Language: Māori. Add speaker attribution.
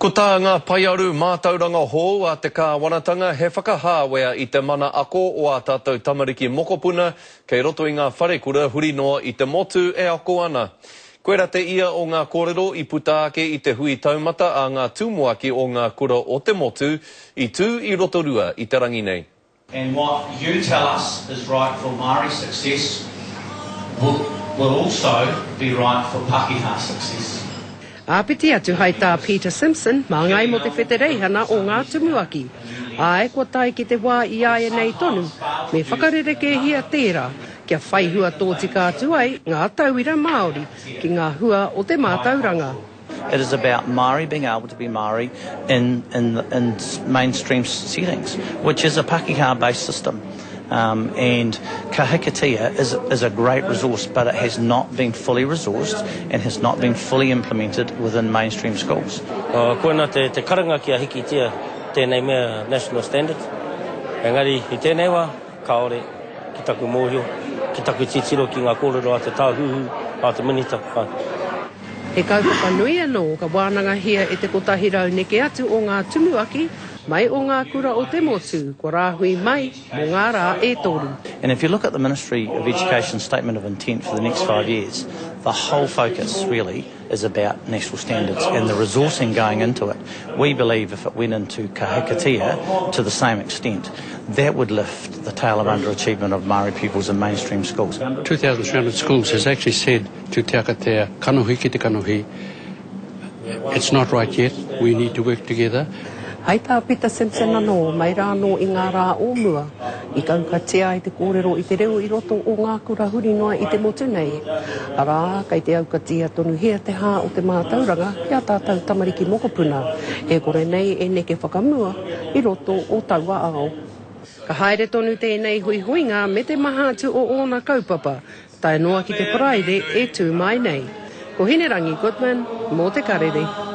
Speaker 1: Ko tā ngā paearu mātauranga hou a te kāwanatanga he whakahāwea i te mana ako o ā tātou tamariki mokopuna kei roto i ngā wharekura huri noa i te motu e ako ana. Koirā te ia o ngā kōrero i puta ake i te hui taumata a ngā tumuaki o ngā kura o te motu i tū i Rotorua i te rangi nei. And what you
Speaker 2: tell us is right for Māori success will also be right for Pakeha success. Āpiti
Speaker 3: atu hai tā Peter Simpson, māngai mō te whetereihana o ngā tumuaki. Āe, kua tae ki te wā i āianei tonu, me whakarerekēhia tērā, kia whai hua tōtika atu ai ngā tauira Māori ki ngā hua o te mātauranga. It is about
Speaker 4: Māori being able to be Māori in in in mainstream settings, which is a Pakeha based system. Um, and Ka Hikatea is, is a great resource, but it has not been fully resourced and has not been fully implemented within mainstream schools. Uh, koina te,
Speaker 5: te karanga ki a Hikitea tēnei mea national standard. Engari, i tēnei wā, kaore ki taku mōhio, ki taku titiro ki ngā kōrero a te tāhuhu, a te minita. Ka. He
Speaker 3: kaupapa nui anō ka wānangahia e te kotahi rau neke atu o ngā tumuaki mai o ngā kura o te motu kua rāhui mai mō ngā rā e toru. And if you look at the
Speaker 4: Ministry of Education statement of intent for the next five years, the whole focus really is about national standards and the resourcing going into it. We believe if it went into Ka Hikatea to the same extent, that would lift the tale of underachievement of Māori pupils in mainstream schools. 2,300 schools
Speaker 6: has actually said To te aka te kanohi ki te kanohi It's not right yet, we need to work together. Hai tā Pita
Speaker 3: Simpson anō, mai rā anō i ngā rā o mua, i kaukatia ai te kōrero i te reo i roto o ngā kura huri noa i te motu nei, arā, kei te aukatia tonuhia te hā o te mātauranga ki ā tātou tamariki mokopuna, e kore nei e neke whakamua i roto o taua ao. Ka haere tonu tēnei huihuinga me te maha atu o ōna kaupapa, Tae noa ki te Paraire e tū mai nei. Ko Hinerangi Goodman mō Te Karere.